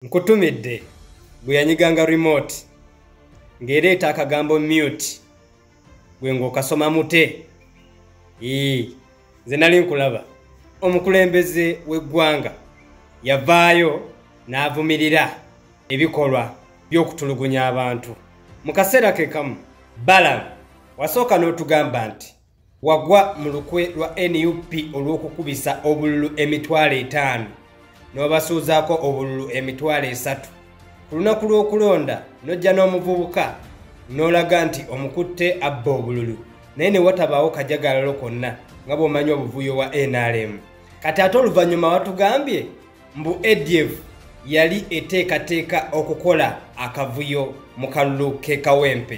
nkutumidde gwe yanyiganga remote ng'ereeta akagambo mute gwe ng'okasoma mute ii nze nali nkulaba omukulembeze w'eggwanga yavaayo n'avumirira ebikolwa by'okutulugunya abantu mu kaseera ke kamu balamu wasooka n'otugamba nti Wagwa mu lukwe lwa nup olw'okukubisa obululu emitwalo etaano n'obasuuzaako obululu emitwalo esatu ku lunaku lw'okulonda n'ojja n'omuvubuka n'olaga nti omukutte abba obululu naye ne watabaawo kajagalalo konna nga bw'omanyi obuvuyo wa nrm kati ate oluvannyuma watugambye mbu adf yali eteekateeka okukola akavuyo mu kalulu k'ekawempe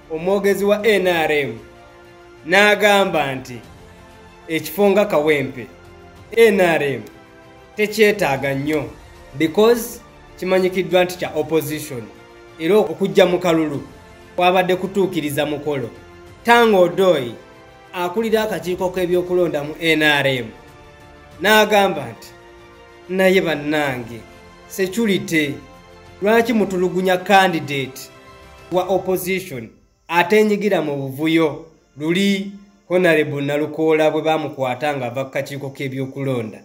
omwogezi wa nrm n'agamba nti ekifo nga kawempe nrm tekyetaaga nnyo because kimanyikiddwa nti kya opposition era okujja mu kalulu kwabadde kutuukiriza mukolo tanga odoi akulira akakiiko k'ebyokulonda mu nrm n'agamba nti naye bannange security lwaki mutulugunya kandidate wa opposition atenyigira mu buvuyo luli honorable nalukoola bwe bamukwata nga ava ku kakiiko k'ebyokulonda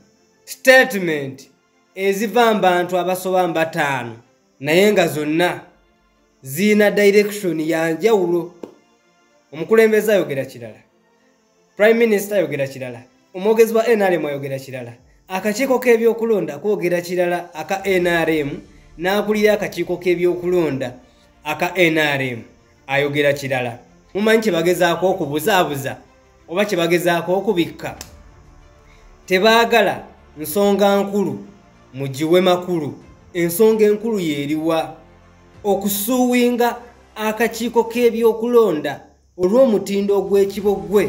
statement eziva mbantu abasoba mbataano naye nga zonna ziina direction yanjawulo omukulembeze ayogera kirala prime minister ayogera kirala omwogezi wa nrm ayogera kirala akakiiko k'ebyokulonda kwogera kirala aka nrm n'akulira akakiiko k'ebyokulonda aka nrm ayogera kirala mumanyi kyebagezaako okubuzaabuza oba kyebagezaako okubikka tebaagala nsonga nkulu mugiwe makulu ensonga enkulu yeeriwa okusuuwinga akakiiko k'ebyokulonda olw'omutindo ogw'ekiboggwe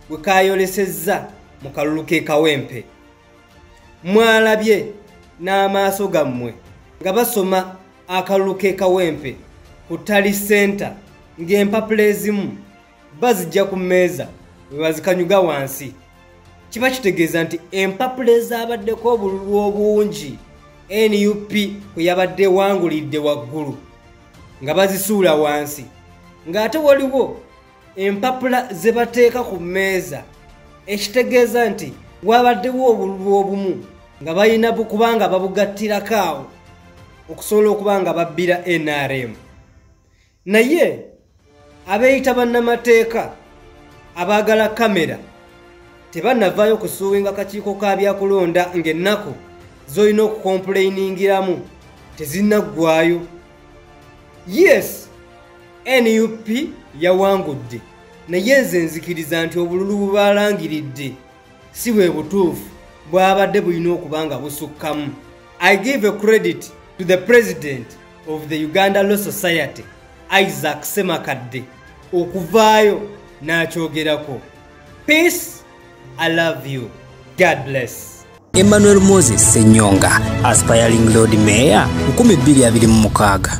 gwe kaayolesezza mu kalulu k'e kawempe mwalabye n'amaaso gammwe nga basoma akalulu k'e kawempe ku tali senta ng'empapula ezimu bazijja ku mmeeza bwe bazikanyuga wansi kiba kitegeeza nti empapula ezaabaddeko obululu obungi nup kwe yabadde ewangulidde waggulu nga bazisuula wansi ng'ate waliwo empapula ze bateeka ku mmeeza ekitegeeza nti waabaddewo obululu obumu nga balina kubanga babugattirako awo okusobola okuba nga babbira nrm naye abeeyita bannamateeka abaagala kamera tebannavaayo kusuuwinga kakiiko ka byakulonda ng'ennaku z'olina okukompuleyiningiramu tezinnaggwayo yes nup yawangudde naye nze nzikiriza nti obululu bubaalangiridde si bwe butuufu bwabadde bulina okuba nga busukkamu i give a credit to the president of the uganda law society isaac semakadde okuvaayo n'akyogerako peace i love you god bless Emmanuel Moses Senyonga, aspiring Lord Mayor, 2026.